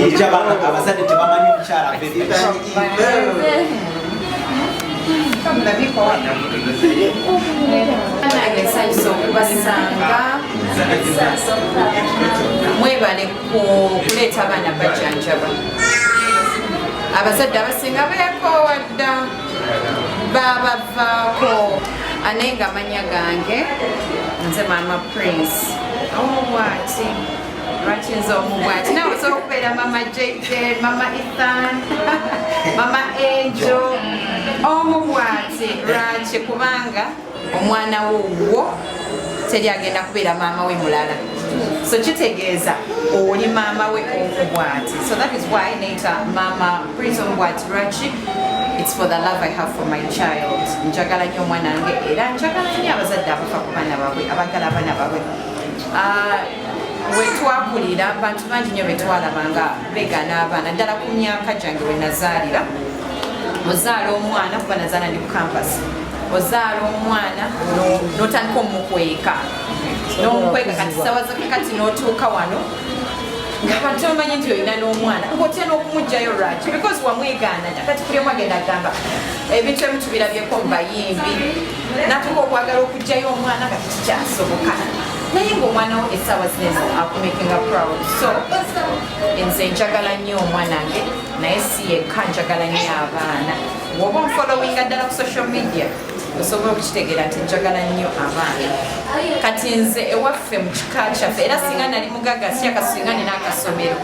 Mujabana abazadde tebamanyi omukyala mwebale kuleeta abaana bajanjaba abazadde abasinga beekoowa dda babavaako ane nga manya gange nze maama prince omubwati oh, lwakinza omubwati nawe osobola okubeera mama jj mama ethan mama enjo omu bwati lwaki kubanga omwana wo wo teri agenda kubeera maama we mulala so kitegeeza oli maama we omubwati so that is why neyita maama prince omubwati lwaki it's for the love i have for my child njagala nyo omwana wange era njagala nyo abazadde abafa ku baana babwe abagala abaana babwe ah, wetwakulira abantu bangi nyo betwalaba nga begana abaana ddala ku myaka gyange wenazaalira ozaala omwana kuba nazaala ndi ku campas ozaala omwana notandika omukweka nomukweka kati sawa zakakati notuuka wano ngabantu omanyi nti olina n'omwana ngaotya n'okumugjayo lwaki because wamwegaana kati kuli omu agenda agamba ebintu ebimu tubirabyeko mu bayimbi natuka okwagala okugjayo omwana nga tekikyasoboka naye ngaomwana wo essaawa zino akumakinga proud so nze njagala nnyo omwana nge naye si yekka njagala nnyo abaana woba onfolowinga ddala ku social media osobola okukitegeera nti njagala nnyo abaana kati nze ewaffe mu kika kyaffe era singa nali mugaga si akasinga nina akasomero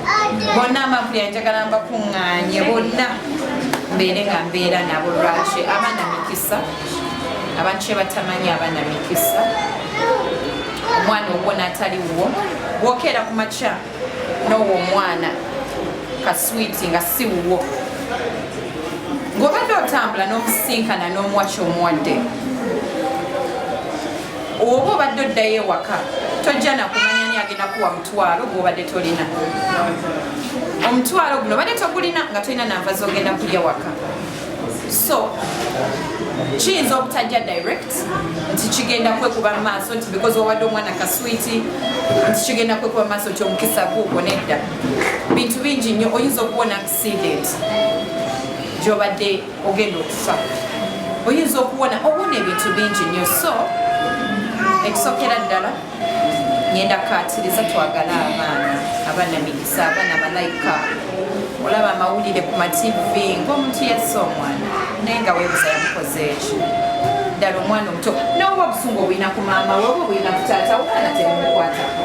bonna amavuli anjagala mbakuŋŋaanye bonna mbeere nga mbeera nabo lwaki abaana mikisa abantu kyebatamanyi abaana mikisa omwana ogwo natali wuwo bwokeera ku makya nowo omwana kaswiti nga si wuwo ngobadde otambula nomusinkana nomuwaki omuwadde oba obadde oddayo ewaka tojja nakumanya ni agenda kuwa mutwalo gwobadde tolina omutwalo guno obadde togulina nga tolina nanva zogenda kulya waka so kiyinza obutajja direct nti kigenda kwekuba mu maaso nti because wawadde omwana kaswiti nti kigenda kwekuba mu maaso nti omukisa guugo nedda bintu bingi nnyo oyinza okuwona accident gyobadde ogenda okufa oyinza okuwona owona ebintu bingi nnyo so ekisokera ddala ngenda kaatiriza twagale abaana abaana migisa abaana malayika olaba amawulire ku mativi ngaomuntu yassa omwana naye nga webuza yamukoze ekyo ddala omwana omuto nawe oba obusungu obulina ku maama we oba obulina ku taata omwana temukwatako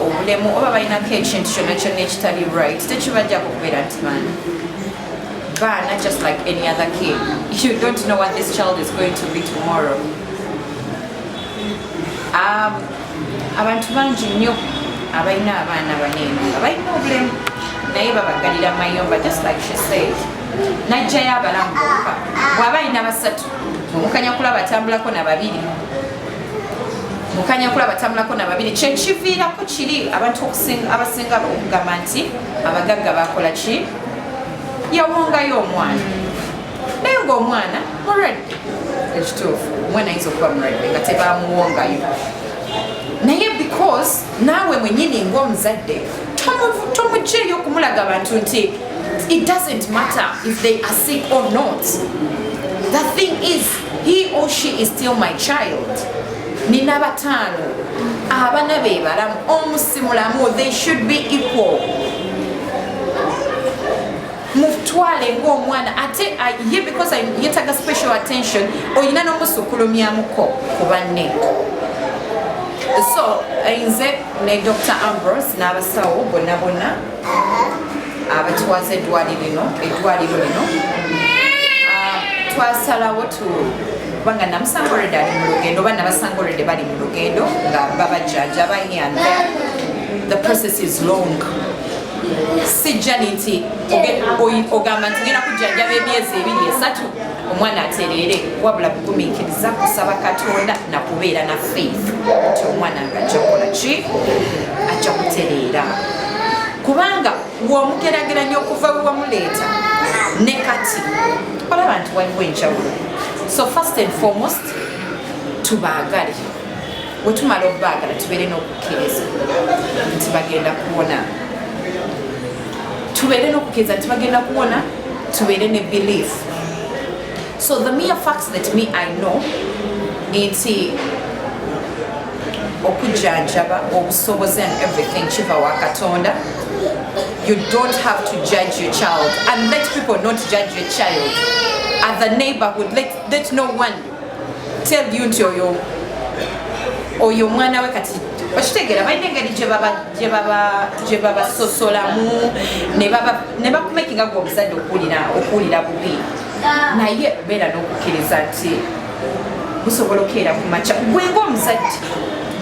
obulemu oba balinako ekintu kyonna kyonna ekitali right tekibajjako kubeera nti baana baana just like any other kid you don't know what this child is going to be tomorrow um, abantu bangi nnyo abalina abaana baneeno nga balina obulemu naye babagalira mayumba just like she said najjayo abalamu bokka bwaba alina basatu omukanya kulaba atambulako na babiri mukanya kulaba tamulako na babiri kyekiviirako kiri abantu abasinga okugamba nti abagagga bakola ki yawongayo omwana naye ngaomwana mulwadde ekituufu omwana ayinza okuba mulwadde nga tebamuwongayo naye because naawe mwenyini ngaomuzadde tomugyeyo okumulaga abantu nti it doesn't matter if they are sick or not the thing is he or she is still my child nina bataano abana be balamu omu si mulamu they should be equal mutwale ngaomwana ate uh, ye because yetaga special attention olina nomusukulumyamuko ku banne so nze ne dr ambrose n'abasawo bonna bonna abatwaza eddwaliro lino eddwaliro lino ah, twasalawo tu kubanga namusanga olwedde ali mu lugendo oba nabasanga olwedde bali mu lugendo nga babajjaja bahianda the process is long sijjani nti ogamba nti ngenda kujjanjaba emyezi ebiri esatu omwana atereere wabula kugumiikiriza kusaba katonda nakubeera na faith nti omwana nga ajja kukola ki ajja kutereera kubanga womugerageranya okuva wewamuleeta ne kati olaba nti waliwo enjawulo so first and foremost tubaagale wetumala okubaagala tubeere n'okukkiriza nti bagenda kuwona tubeere n'okukkiriza nti bagenda kuwona tubeere ne belief so the mere facts that me i know nti okujjanjaba obusobozi and everything kiva wa katonda you don't have to judge your child and let people not judge your child at the neighborhood let, let no one tell you nti oyo oyo omwana we kati okitegeera balina engeri gyebabasosolamu ne bakumekinga gwe omuzadde okuwulira bubi naye obeera n'okukkiriza nti busobola okukeera ku makya gwe ngaomuzadde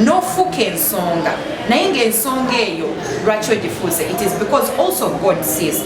n'ofuuka ensonga naye ngaensonga eyo lwaki ogifuuse it is because also god sees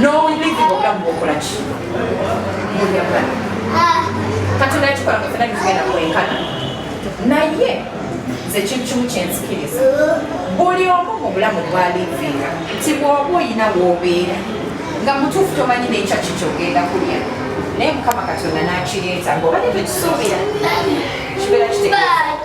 n'obubizi bwonna mubukola ki mubyagala katonda yakikola nga fena bitugenda kwenkana naye nze kintu kimu kyenzikiriza buli omu mu bulamu bwalivinga nti bwoba oyina woobeera nga mutuufu tomanyi nekya kikyogenda kulya naye mukama katonda nakireeta ngaobadde tekisuubira kibeera kitegeeza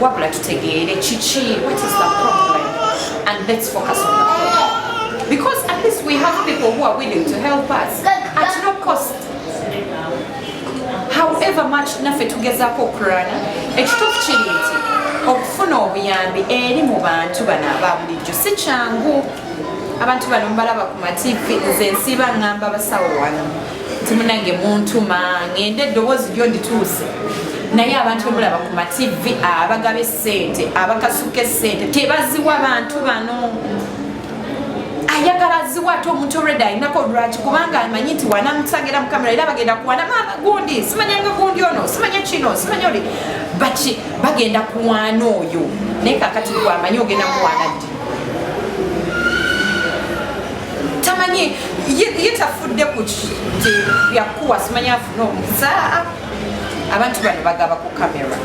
wabula tutegeere kiki what is the problem and let's focus on the problem because at least we have people who are willing to help us at no cost however much naffe tugezaako okurana ekituufu kiri nti okufuna obuyambi eri mu bantu bano aba bulijjo si kyangu abantu bano mbalaba ku mativi nze nsiiba ngamba basawo wano timunange muntuma ngende eddoboozi lyo ndituuse naye abantu bemulaba ku mativi abagaba esente abakasuka esente tebaziwa bantu bano ayagala ziwa ate omuntu olwedde alinako lwaki kubanga amanyi nti wanamusagira mu kamera era bagenda kuwana maama gundi simanya nga gundi ono simanya kino simanya oli baki bagenda kuwana oyo naye kakati gwamanyi ogenda muwana ddi tamanyi ye tafudde ku byakuwa simanyi afuna omusa abantu bano bagaba ku kamera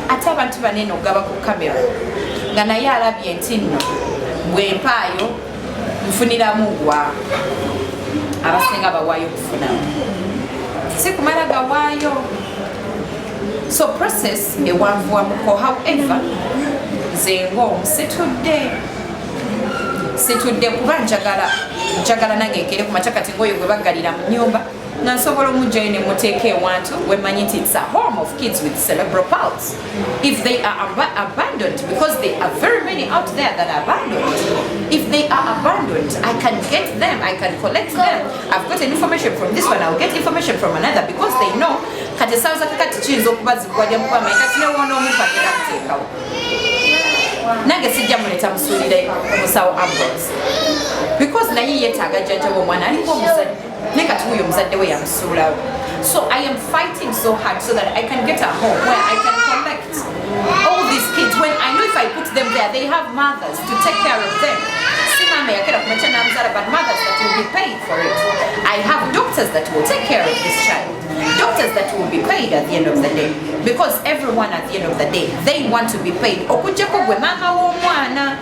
ate abantu banene okugaba ku kamera nga naye alabye nti nno bwempaayo nfuniramu wa abasinga bawaayo okufunamu sikumala gawaayo so process ewanvuwamuko however nze ngaomu situdde situdde kuba njagala njagala nange nkere ku makya kati ngoyo gwe baggalira mu nyumba nga nsobola omugjayo ne muteeka ewantu wemanyi nti its a home of kids with cerebral pals if they are ab abandoned because they are very many out there that are abandoned if they are abandoned i can get them i can collect them i've got an information from this one i'll get information from another because they know kati esanza kakati kiyinza okuba zikuwadde mukuba mayi kati newoona omuntu agenda kuteekawo nange sijja muleta musuulire musawo ambulance because naye yetaaga jjajjawo omwana aliko omuzadde naye kati wuyo omuzadde we yamusuulawo so i am fighting so hard so that i can get a home where i can collect all these kids when i know if i put them there they have mothers to take care of them mama yakera kumacha namzala but mothers that will be paying for it i have doctors that will take care of this child Doctors that will be paid at the end of the day because everyone at the end of the day they want to be paid okujjako gwe maama w'omwana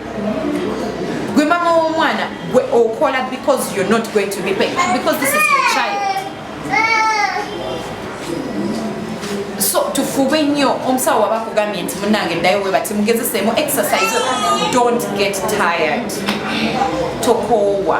gwe maama w'omwana gwe okola because you're not going to be paid because this is your child so tufube nnyo omusawo waba akugambye nti munange ddayo we bati mugezeseemu exercise don't get tired tokoowa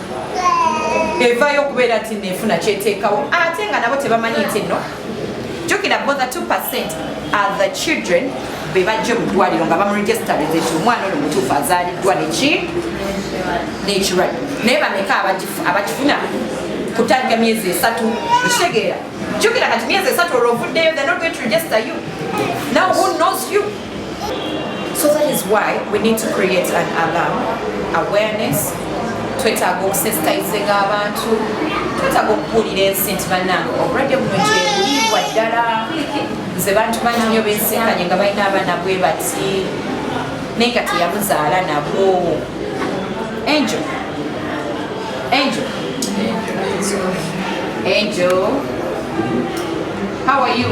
evayo okubeera nti nefuna kyeteekawo ate nga nabo tebamanyi nti no jukira bo the 2 percent are the children be bajje mu ddwaliro nga bamuregisitaliza ekyo omwana oyo mutuufu azaaliddwa neki nekirwadde naye bameka abakifuna kutandika myezi esatu ekitegeera jukira kati myezi esatu olwo ovuddeyo the not going to register you now who knows you So that is why we need to create an alarm, awareness, twetaaga okusensitizinga abantu twetaaga okubuulira ensi nti bannange obulwadde buno kyebuliibwa ddala nze bantu bangi nyo bensinkanye nga balina abaana bwe bati naye nga teyamuzaala nabwo angel angel angel how are you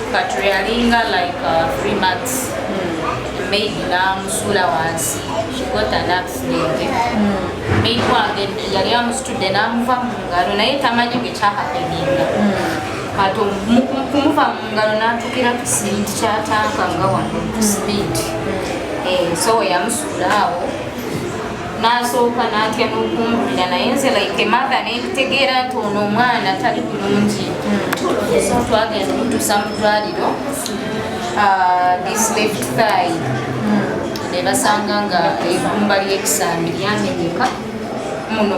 But we are in like uh, three months. Mm. Made la musula wansi. She got an accident. Mm. Made wange yali amusitudde n'amuva mu ngalo naye tamanyi bwe kyahapeninga. But kumuva mu ngalo n'atukira ku siringi kya tanka nga wano ku siringi. So yamusula awo. n'asooka n'atya n'okumbulira naye nze like ematha nentegeera nti ono omwana tali bulungi hmm. twagenda omutuusa mu ddwaliro ah, this left thigh hmm. ne basanga nga egumba ly'ekisambi lyamenyeka muno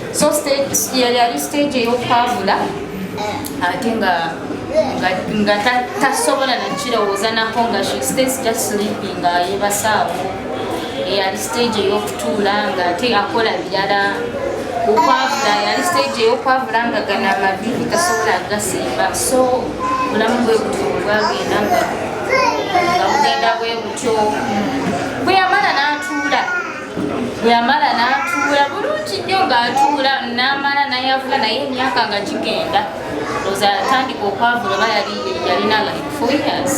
so yali ali stage eyokwavula eh. ate nga nga tasobola nakirowooza nako nga she stays just sleeping nga yebasaawo eyali eh, stage eyokutuula nga ate akola birala okwavula yali stage eyokwavula nga gana amavivi tasobola agasimba so bulamu bwe butyo bwagenda nga bugenda bwe butyo bweyamala natuula yamala n'atuula bulungi nnyo ng'atuula n'amala nayavula naye emyaka nga gigenda oza yatandika okwavula oba yali yalina like four years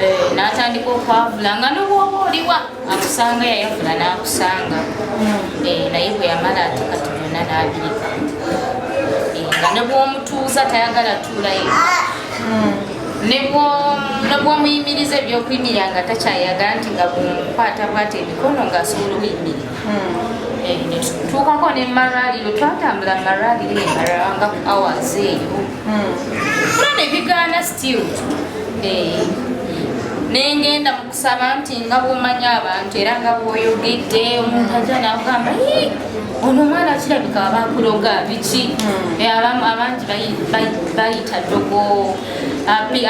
eh, n'atandika okwavula nga nobwoba oliwa akusanga yayavula n'akusanga hmm. eh, naye bwe yamala ate kati byonna n'abirika eh, nga ne bwomutuuza tayagala tuulayo hmm. nebwomuyimiriza ebyokuyimirira nga takyayagala nti nga bumukwata bwata emikono ngaasobola okuyimirira hmm. eh, tuukako ne maraliro twatambula maraliro emarala nga ku hours eyo hmm. kuna nebigaana still eh, nengenda saba nti nga bwomanya abantu era nga bwoyogedde omuntu aja nagamba ono omwana kirabika abakuloga biki hmm. eh, abangi bayita dogo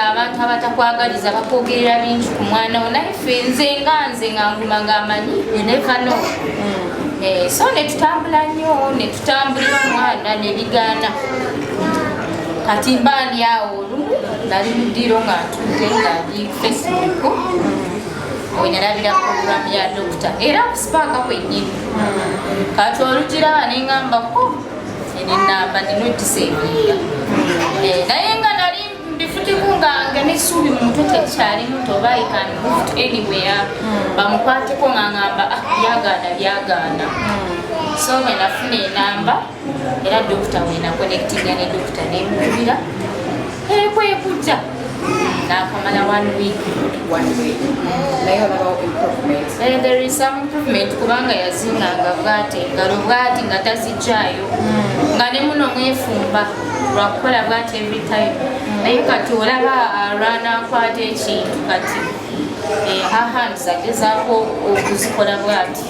abantu abatakwagaliza bakwogerera bingi ku mwana wo naye fe nze nga nze nga nguma nga amanyi enekano hmm. eh, so netutambula nnyo netutambulira omwana nebigaana kati mbaani awo nali mu ddiiro nga ntudde nga ndi facebook we nalabira programu ya dokita era kusipaaka kwennyini kati olugiraba nengambako enenamba ninojisa ebinda eh, naye nga nali mbifutiku nga nga nesuubi muntu tekyali muto oba i can move to anywhere hmm. bamukwateko nga ngamba ah, byagaana byagaana hmm. so wenafuna enamba era dokita wena connectinga ne dokita nemubira ekwekujja nakamala one week one week naye olabawo improvement eh, there is some improvement kubanga yazinganga bwati ngalo bwati nga tazijjayo hmm. nga ne muno mwefumba lwakukola bwati every time hmm. naye kati olaba alwana ah, akwata ekintu kati eh, her hands agezaako okuzikola bwati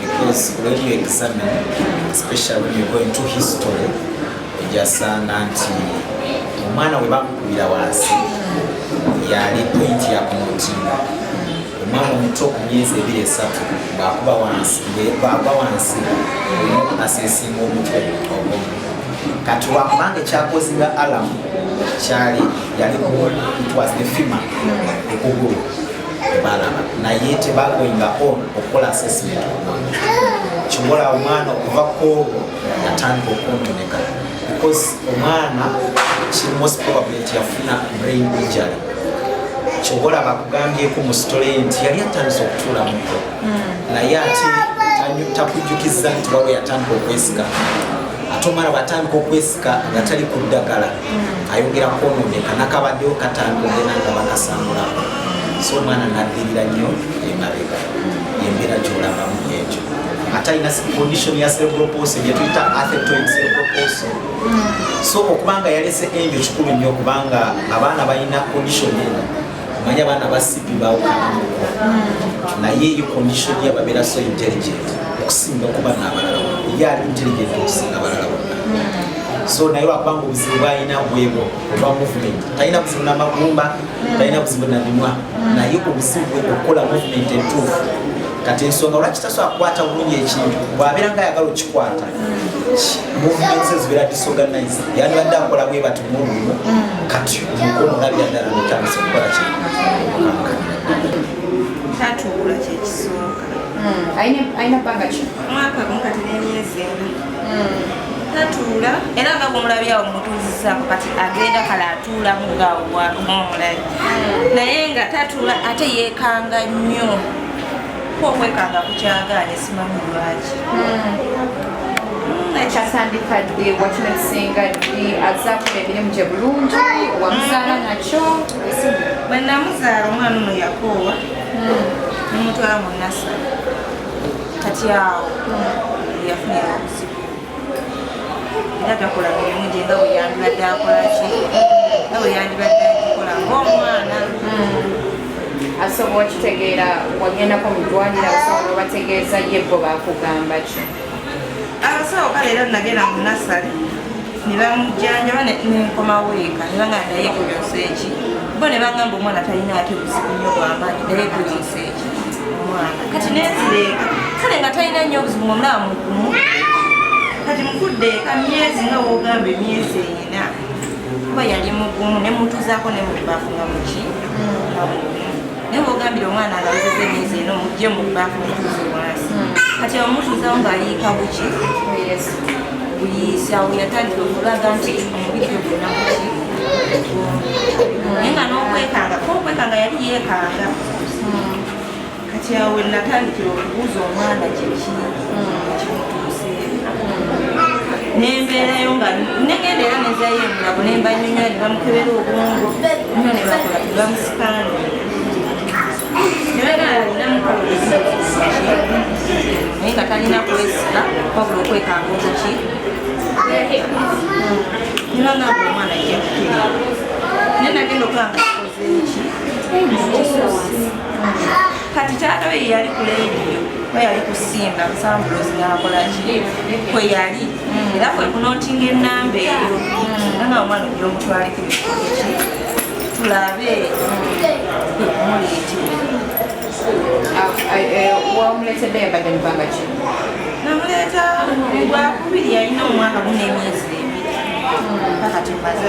Because when you examine, especially when you go into history, ejasanga nti omwana we bakukubira wansi yali point ya kumutinda omwana omuto ku myezi ebiri esatu ng'akuba wansi ng'agwa wansi omu aseesinga omutwe ogumu kati wakubanga ekyakozinga alamu kyali yali it was the fima ekugulu balaba naye tebagoinga on okukola assessment omwana kyobola omwana okuva kwolwo yatandika okuntoneka because omwana kiri most probably nti yafuna brain injury kyobola bakugambyeko mu sitole nti yali atandise okutuulamuko hmm. naye ate takujjukiza nti waliwo yatandika okwesika ate omwana bwatandika okwesika nga tali ku ddagala ayongera kwonooneka nakabaddewo katambudde nanga bakasambulako so omwana naddirira nnyo emabega yembeera gyolabamu ekyo ate alina condition ya cerebroposi gyetuyita athetoid cerebroposi so okubanga yalese enjo kikulu nnyo kubanga abaana balina condition eno manya bana ba sipi bawukanamu naye eyo condition ya babera so intelligent okusinga kuba nabalala ye ali intelligent okusinga abalala bonna so naye lwakubanga obuzibu bwalina bwebwo obwa movement talina buzibu na magumba talina buzibu na bimwa naye obuzibu bwe okukola movement entuufu kati ensonga lwaki tasobola kukwata bulungi ekintu bwabeera nga ayagala okikwata munsi ezibeera disorganized yandibadde akola bwe bati mulumu kati omukono olabira ddala notandisa okukola ki tatuula kyekisooka alina bbanga ki mwaka gumu kati n'emyezi ena tatuula era nga bwomulabyawo mutuuzizaako kati agenda kale atuulamu ngaawomulayi naye nga tatuula ate yeekanga nnyo Kwa omwekanga kukyagaanye simanyi lwaki hmm. ekyasandika ddi wakino ekisinga ddi azakola emirimu gye bulungi wamuzaala hmm. nakyo bwe namuzaala omwana ono yakoowa hmm. nomutwala mu nasa kati awo yafunira obuzibu era takola mirimu gye nga bwe yandibadde akola ki nga bwe yandibadde agikola ngaomwana hmm. asobola okitegeera wagendako mu ddwaliro abasawo babategeeza ye bo bakugamba ki abasawo kale era nagenda mu nasale ne bamujjanjaba nenkomawo eka ne banga naye kuyonsa eki bo ne bangamba omwana talina ate buzibu nyo bwamaanyi naye kuyonsa eki kati nezireeka kale nga talina nnyo obuzibu ngomulaba mugumu kati mukudde eka myezi nga wogamba emyezi ena kuba yali mugumu nemutuzaako nemubafu nga muki naye wogambire omwana alawuzeza emyezi ena omugye mubafu mutuze wansi hmm. kati abamutuzawo ng'aliika buki buyiisa weyatandika okulaga nti omubiri gwe gunakuki naye nga n'okwekanga kokwekanga yali yekanga kati awo natandikira okubuuza omwana kiki nembeerayo nga negenda era nezayo emunabo nembanyonyola ne bamukebera obwongo nyo ne bakola tebamusikanga naye nga talina kwesika wabula okwekanga okuki nibanga omwana yakuteera naye nagenda okulanga kati taata oyo yali ku leediyo we yali kusinga musambulozi nakola ki kwe yali era kwe kunotinga enamba eyo era nga omwana ojja omutwaleko ebikoki tulabe kwe kumuleetera wamuleetedde yabadde mubanga ki namuleeta gwakubiri yalina omwaka gunemyezi ebiri mpaka tumaze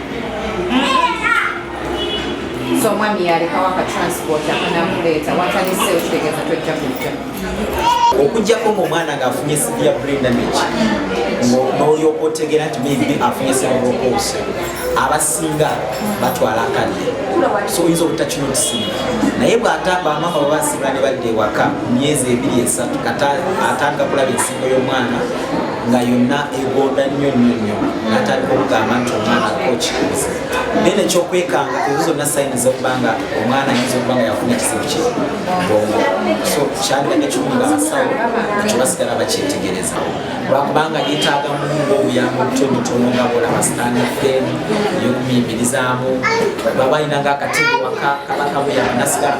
so omwami yalekawo aka transport akanamuleeta watanise okitegeeza tojja kujja okujjako ngaomwana ngaafunye sibi ya brain damage nolyoka otegeera nti maybe afunye seroropos abasinga batwala akadde so oyinza obutakinotisiina naye bwatamba amama babasibula ne badda ewaka myezi ebiri esatu kata atandika kulaba ensingo y'omwana nga yonna egonda nnyo nnyo nnyo natandika okugamba nti omwana kokibuuza naye nekyokwekanga ezo zonna sayini zokuba nga omwana ayinza okuba nga yafuna ekizibu kye bongo so kyaliba nekiwunga abasawo ekyo basigala bakyetegereza lwakubanga yetaaga munga obuyamba obutonotono nga bolaba sitaani fem eyokumuyimbirizamu baba ayinanga akatiiwaka kaba kamuyamba nasigala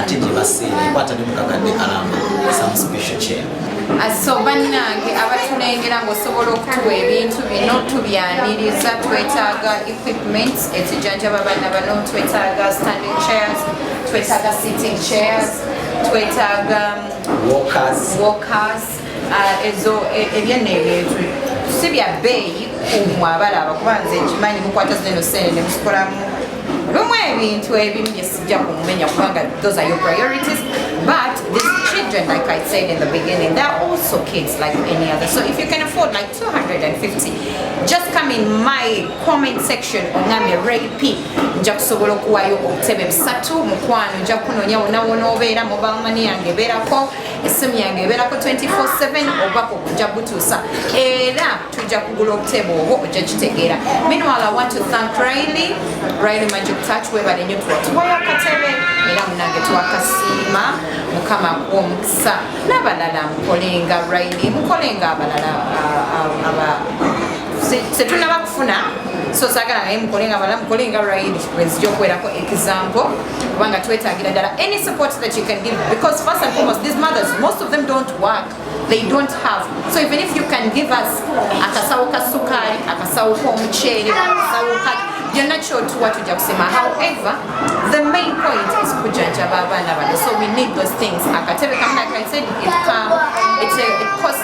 ate gye baseera ekwata ne mukakadde kalamba some special chair ah, so bannange abatulengera ngaosobola okutuwa ebintu bino tubyaniriza twetaaga equipment ezijanjaba banna bano twetaaga standing chairs twetaaga sitting chairs twetaaga walkers Ah, ezo e, ebyenna ebyetu si bya bbeeyi kumwe abalaba kuba nze nkimanyi mukwata zino sente ne mukikolamu lumu ebintu ebimu bye sijja kumumenya kubanga those are your priorities but these children like i said in the beginning they're also kids like any other so if you can afford like 250 just come in my comment section onamye rap nja kusobola okuwayo obutebe busatu mukwano nja kunoonya wonawona obeera mobile money yange ebeerako essimu yange ebeerako 24/7 obubaka okujja butuusa era tujja kugula obutebe obwo ojja kitegeera meanwhile i want to thank riley riley magic touch webale nyo tuwa tuwayo akatebe era munange twakasiima mukama akuwa omukisa n'abalala mukolenga riley mukolenga abalala setunaba kufuna so sagala naye mukolenga abalala mukolenga riley bwenzija okuwerako example kubanga twetagira ddala any support that you can give because first and foremost these mothers most of them don't work they don't have so even if you can give us akasawo ka sukali akasawo k'omuceere akasawo ka byonna kyotuwa tujja kusema however the main point is kujanjaba abaana bano so we need those things akatebe kamu like i said it, come, it's a, it costs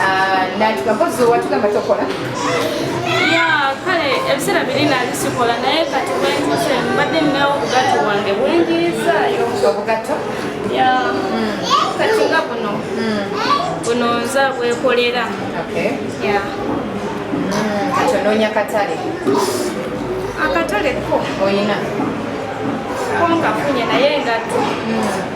Ah, natuka mpozi watugamba tokola kale ebiseera biri nali sikola naye kati bwentuse mbadde ninawo obugatto bwange bwenjirizayo obugatto hmm. kati nga buno hmm. buno nza bwekolera hmm. kati onoonya katale akatale ko oyina ko ngafunye naye ngatto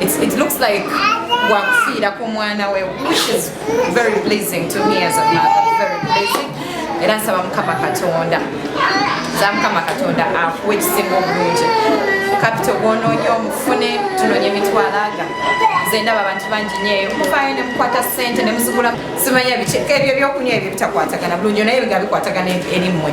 It's, it looks like wakufiira ku mwana we which is very pleasing to me as a mother very pleasing era nsaba mukama katonda za mukama katonda akuwa ekisinga obulungi kapito gwonoonya omufune tunonye emitwalaga nze ndaba abantu bangi nyeeyo mufaayo ne mukwata ssente ne muzigula simanya biki ebyo ebyokunywa ebyo bitakwatagana bulungi naye nga bikwatagana eri mmwe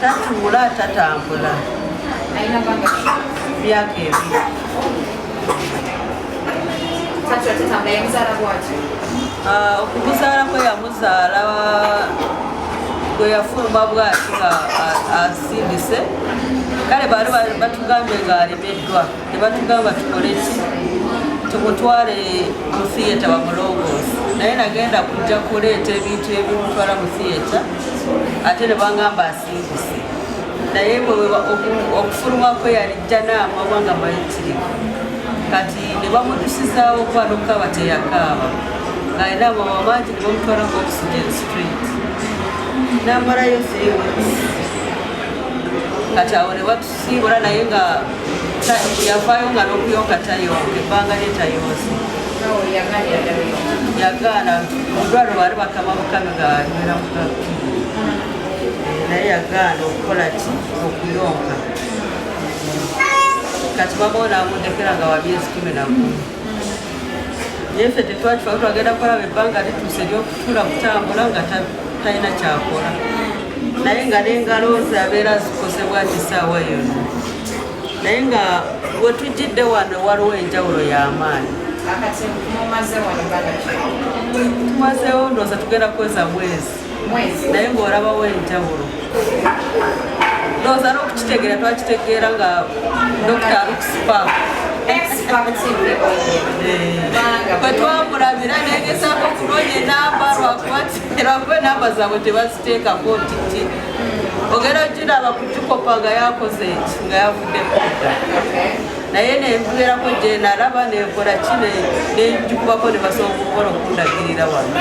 tatuula tatambula myaka ebiri ah, okuguzaala kwe yamuzaala gwe yafuluma bwati nga asindise kale baali batugambye ng'alemeddwa tebatugamba tukole ki tukutwale mu theatre bamulongoosi naye nagenda kujja kuleeta ebintu ebimutwala mu theatre ate ne bangamba asiibuse naye okufuluma kwe yali jjanaama oba nga mayitirivu kati ne bamutusizaawo okuba nokukaaba teyakaaba ng'alina amama mangi ne bamutwala nga oxygen street namalayo three weeks kati awo ne siibula naye nga yavaayo nga n'okuyonka tayonka ebbanga lye tayonse yagaana mudwalo baali bakama bukami nga nywera mukami naye yagaana okukola ki okuyonka kati baba onaamundekera nga wabyezi kumi nagumu naye ffe tetwakifayo twagenda kukolaba ebbanga lituuse eryokutula kutambula nga talina kyakola naye nga nengalo ze abeera zikosebwa nti saawa yona naye nga wetujjidde wano waliwo enjawulo y'amaanyi tumazeewo ndooza tugenda kweza mwezi mwezi naye ng'olabawo enjawulo ndowooza n'okukitegeera twakitegeera nga dokita alukusipa kwetwamulabira negezaako okunoonya enamba lwakubateragwe enamba zaabwe tebaziteeka kotiti ogenda okiraba kukikopa nga yakoze eki nga yavudde kudda naye nenkuberako gyenalaba nenkola kine nenjukubako nebasobola okukola okundagirira wano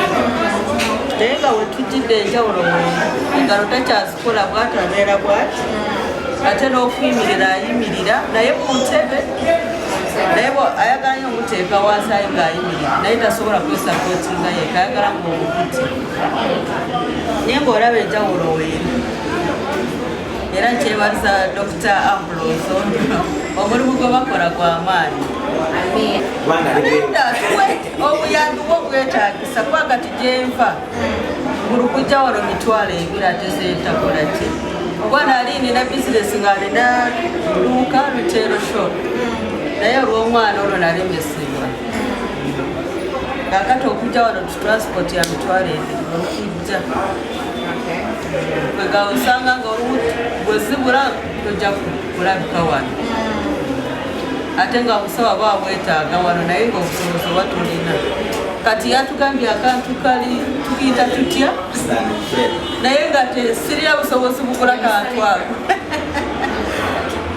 naye nga wetujidde enjawulo engalo takyazikola bwati abeera bwati ate n'okuyimirira ayimirira naye ku ntebe naye ayagalayo omuteeka wasayo ng'ayimirira naye tasobola kwesapotinga yeka ayagala ngaomukuti naye ngaolaba enjawulo weeri era nkyebaza dr ambulozo omulimu gwe bakola gwa maanyi obuyambi bwo bwetagisa kubanga tujenva buli kujja wano mitwalo ebiri ate zetakula ki oba nali nina bizinesi nga nina luuka luteero shop naye olw'omwana olwo nalemesebwa kakati okujja wano tutransport ya mitwalo ebiri kwegala osanga nga olumu bwezibula tojja kulabika wano ate nga obusawa bwa bwetaaga wano naye nga obusobozi oba tulina kati yatugambye akantu kali tukiyita tutya naye nga tesirira busobozi bukula kantu ako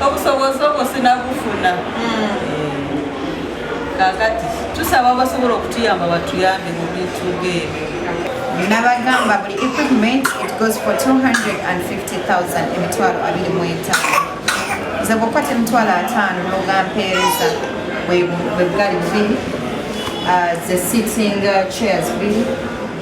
obusobozi obwo sinabufuna hmm. kakati tusaba abasobola okutuyamba batuyambe mu bintu ng'ebyo nabagamba buli equipment it goes for 250000 emitwalo abiri mu etaano nze bwokwata emitwalo ataano nogampeereza bwebugali bubiri uh, the sitting uh, chairs bubiri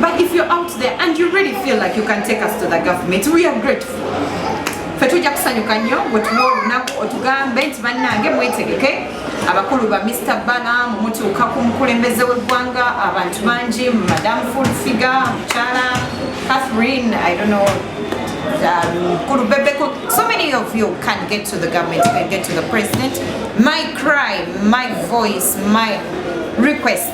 But if you're out there and you really feel like you can take us to the government, we are grateful. Fe tujja kusanyuka nnyo bwe tuwa olunaku otugambe nti bannange mwetegeke abakulu ba Mr. Bana mumutuuka ku mukulembeze w'eggwanga abantu bangi Madam Full Figure, Mukyala Catherine, I don't know Mkulu um, Bebeko, so many of you can get to the government, can get to the president. My cry, my voice, my request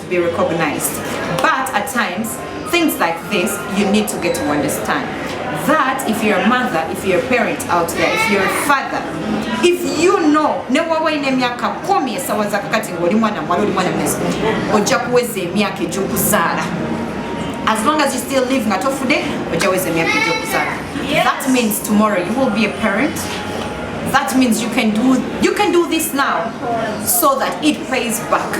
be recognized but at times things like this you need to get to understand that if you're a mother if you're a parent out there if you're a father if you know ne waba olina emyaka kumi esawa zakakati ngaoli mwana mwala oli mwana mweso ojja kuweza emyaka egyokuzaala as long as you still live nga tofude ojja weza emyaka egyokuzaala that means tomorrow you will be a parent that means you can do you can do this now so that it pays back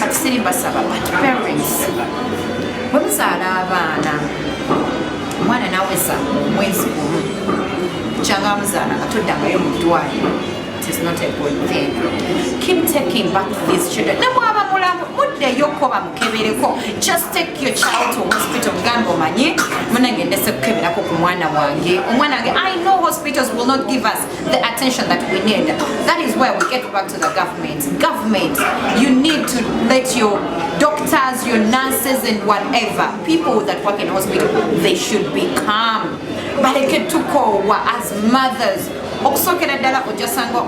katusiri basaba but parents bwe muzaala abaana omwana naweza mwezi gumu kyanga amuzaala nga toddangayo mu ddwaliro is not a good thing. Keep taking back these children. Ne bwaba mulamu muddeyo ko bamukebereko. Just take your child to hospital gambo manyi. Munange ndese kukeberako ku mwana wange. Omwana wange I know hospitals will not give us the attention that we need. That is where we get back to the government. Government, you need to let your doctors, your nurses, and whatever people that work in hospital, they should be calm. baleke tukoowa as mothers okusookera ddala ojasanga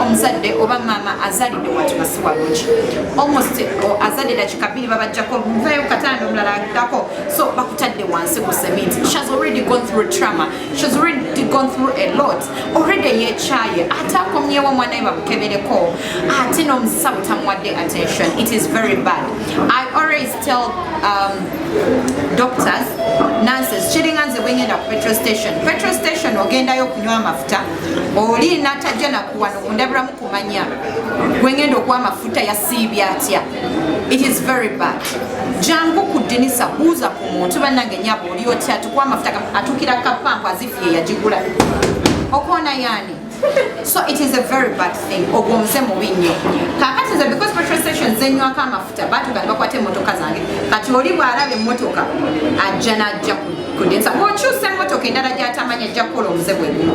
omuzadde oba maama azalidde watu nga siwalungi almost azadde dakika bbiri babajjako muvayo katanda omulala agdako so bakutadde wansi ku cement she has already gone through trauma She's already gone through a lot. Already yekyaye ate akomyewo omwana we bamukebereko ate n'omusawo tamuwadde attention. It is very bad. I always tell um, doctors nonsense kiringa nze bwengenda ku petrol station petrol station ogendayo okunywa amafuta oli natajja nakuwano kundabiramu kumanya gwengenda okuwa amafuta yasiibya atya It is very bad. Jangu ku dinisa buuza ku muntu bannange nyabo oli otya tukwa amafuta atukira kapampu azifu ye yagigula okoona yaani so it is a very bad thing ogwo muze mubi nnyo kakati nze because petrol station zenywako amafuta batuga ne bakwata emmotoka zange kati oli bw'alaba emmotoka ajja n'ajja ku dinisa bw'okyusa emmotoka endala gy'atamanya ajja kukola omuze bwe gumu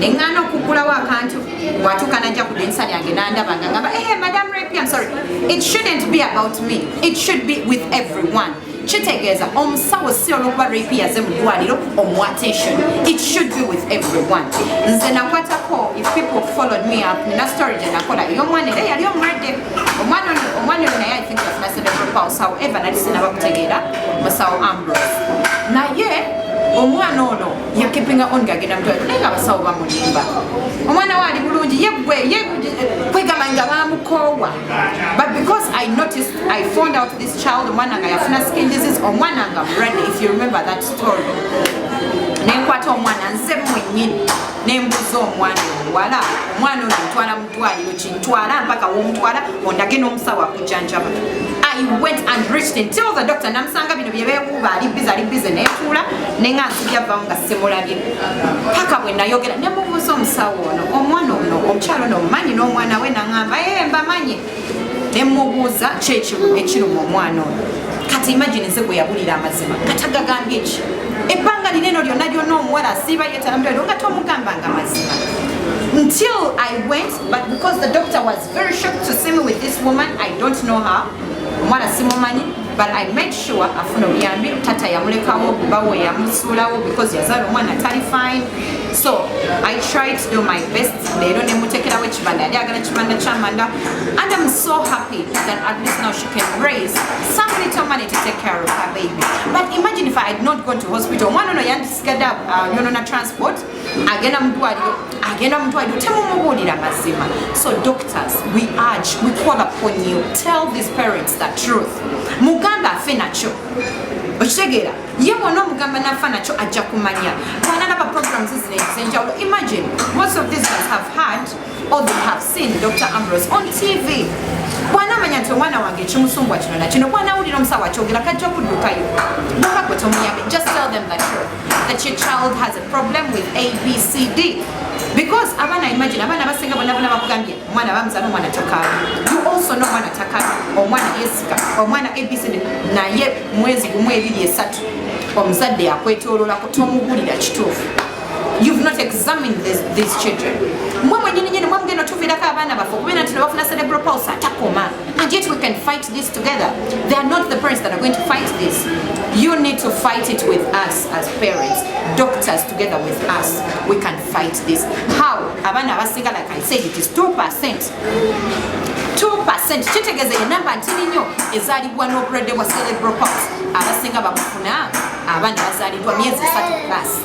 ne ŋŋaana okugulawo akantu watuuka najja ku dinisa lyange nandaba nga ngamba ehe eh, madam rapi am sorry it shouldn't be about me it should be with everyone kitegeeza omusawo si olwokuba rapi yaze mu ddwaliro omu attention it should be with everyone nze nakwatako if people followed me up nina story gye nakola ey'omwana era yali omulwadde omwana omwana oyo naye i think yafuna cerebral pulse however nali sinabakutegeera musawo ambrose naye omwana ono yakipinga on gagenda mutwala naye nga abasawo bamulimba omwana we ali bulungi yegwe kwegamba nga bamukoowa but because i noticed i found out this child omwana nga yafuna skin disease omwana nga mulwadde if you remember that story nenkwata omwana nze mwenyini nembuza omwana omuwala omwana ono ntwala ddwaliro kintwala mpaka womutwala ondage n'omusawo akujjanjaba i went and reached him till the doctor namusanga bino bye beekuuba ali bize ali bize neetuula ne nga nsibyavvamu nga simulabye paka bwe nayogera ne mubuuza omusawo ono omwana ono omukyalo ono omumanyi n'omwana we naŋamba ee eh, mbamanyi ne mmubuuza ki ekimu ekiruma omwana oyo kati imagine nze gwe yabulira amazima kati agagambye ki ebbanga lino eno lyonna lyonna omuwala asiiba yetalamutwaliro nga tomugamba nga mazima until i went but because the doctor was very shocked to see me with this woman i don't know her omuwala simumanyi but I made sure afuna obuyambi tata yamulekawo bawe yamusuulawo because yazaala omwana atali fine so I tried to do my best leero nemutekerawo ekibanda yali agala ekibanda kyamanda and I'm so happy that at least now she can raise some little money to take care of her baby but imagine if I had not gone to hospital omwana ono yandisigadde uh, yonona transport agenda mudwaliro agenda mudwaliro temumubuulira mazima so doctors we urge we call upon you tell these parents the truth muganda afe nakyo okitegeera ye bwona omugamba nafa nakyo ajja kumanya bwanalaba programs zino ezenjawulo imagine most of these ones have had or they have seen dr ambrose on tv bwanamanya nti omwana wange ekimusumbwa kino nakino bwanawulira omusawo akyogera kajja kuddukayo bwobagwe tomuyambe just tell them the truth that your child has a problem with abcd because abaana imagine abaana abasinga bona bona bakugambye omwana bamuzana omwana takala you also know omwana takala omwana yesika omwana abcd naye mwezi gumu ebiri esatu omuzadde yakwetololako tomubulira kituufu you've not examined this, these children mwe mwenyini nyini mwe mugenda otuviirako abaana baffe okubeera nti nebafuna cerebral pulse atakoma And yet we can fight this together. They are not the parents that are going to fight this. You need to fight it with us as parents, doctors together with us. We can fight this. How? Abana Abasiga, like I said, it is 2%. 2% kitegeza enamba ntini nnyo ezaalibwa n'obulwadde bwa cerebral palsy abasinga babufuna abaana bazaalibwa myezi esatu plus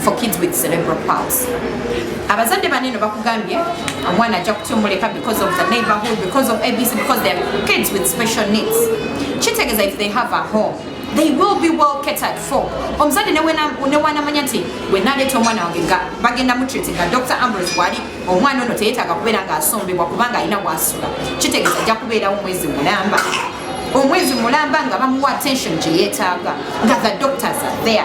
for kids with cerebral palsy abazadde baneno bakugambye omwana ajja kutyomuleka because of the neighborhood because of abc because they are kids with special needs kitegeeza if they have a home they will be well catered for omuzadde newanamanya nti wenaleeta omwana wange nga bagenda mutreat nga dr ambros wali omwana ono teyetaaga kubeera nga asombebwa kubanga alina wasula kitegeeza ajja kubeerawo mwezi mulamba omwezi mulamba nga bamuwa attention gyeyetaaga nga the doctors are there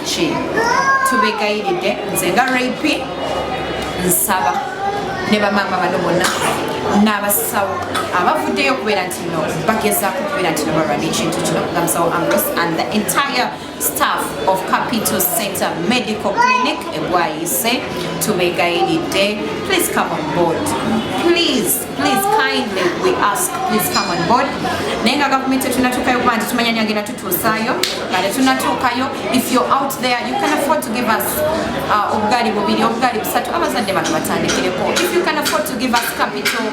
ki tubegayiridde nze nga rap nsaba ne bamaama bano bonna n'abasawo abavuddeyo okubeera nti no bagezaako okubeera nti nobalwana ekintu kino nga musawo ambros and the entire staff of capital center medical clinic egwayise tubegayiridde please come on board please Please kindly we ask please come on board. Naye nga gavumenti etunatuukayo kuba nti tumanya ni agenda tutuusaayo nga tetunatuukayo. If you're out there you can afford to give us uh, obugaali bubiri obugaali busatu abazadde bano batandikireko. If you can afford to give us capital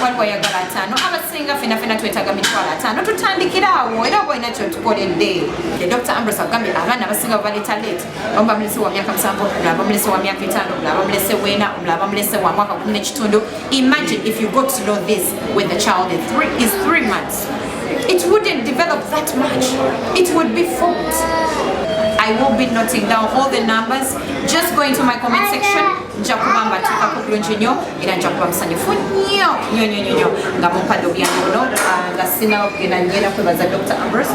waliwo ayagala ataano abasinga fena fena twetaaga mitwalo ataano tutandikiraawo era oba olina kyotukoledde. Dr. Ambrose agambye abaana abasinga bwe baleeta late abamu bamulese wa myaka musanvu omulala bamulese wa myaka etaano omulala bamulese wena omulala bamulese wa mwaka kumi n'ekitundu imagine if you got to know this when the child is three, is three months it wouldn't develop that much it would be formed I will be noting down all the numbers. Just go into my comment section. nja kuba mbatuuka ku bulungi nnyo era nja kuba musanyufu nnyo nnyo nnyo nnyo nga mumpadde obuyambi buno ah, nga sinaba kugenda nyeera kwebaza dr ambrose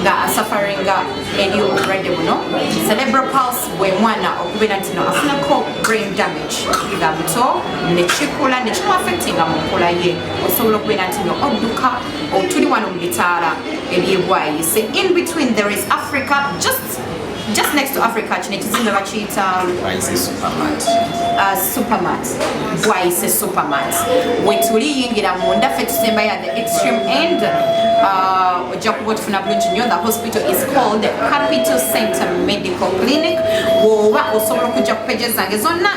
nga asafaringa eri obulwadde buno cerebral pulse bwe mwana okubeera nti no afunako brain damage nga muto nekikula nekimuafectinga mu nkula ye osobola okubeera nti no odduka otuli wano mu bitaala ebyebwayise in between there is africa just just next to Africa kino ekizimbe bakiyita Bwayise Supermart. uh, supermat bwayise supermat wetuli yingira munda ffe tusembayo at the extreme end uh, ojja kuba otufuna bulungi nnyo the hospital is called capital center medical clinic woba osobola okujja ku peje zange zonna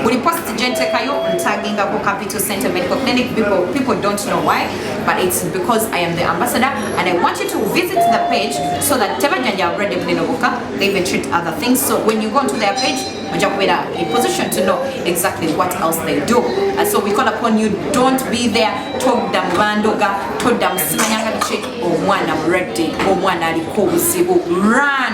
buli post gyentekayo ntagingako capital center medical clinic people, people don't know why but it's because i am the ambassador and i want you to visit the page so that tebajanja already bulino boka they even treat other things so when you go to their page oja kubeera in position to know exactly what else they do and so we call upon you don't be there todda mu bandoga todda mu simanyanga biki omwana mulwadde omwana aliko obuzibu run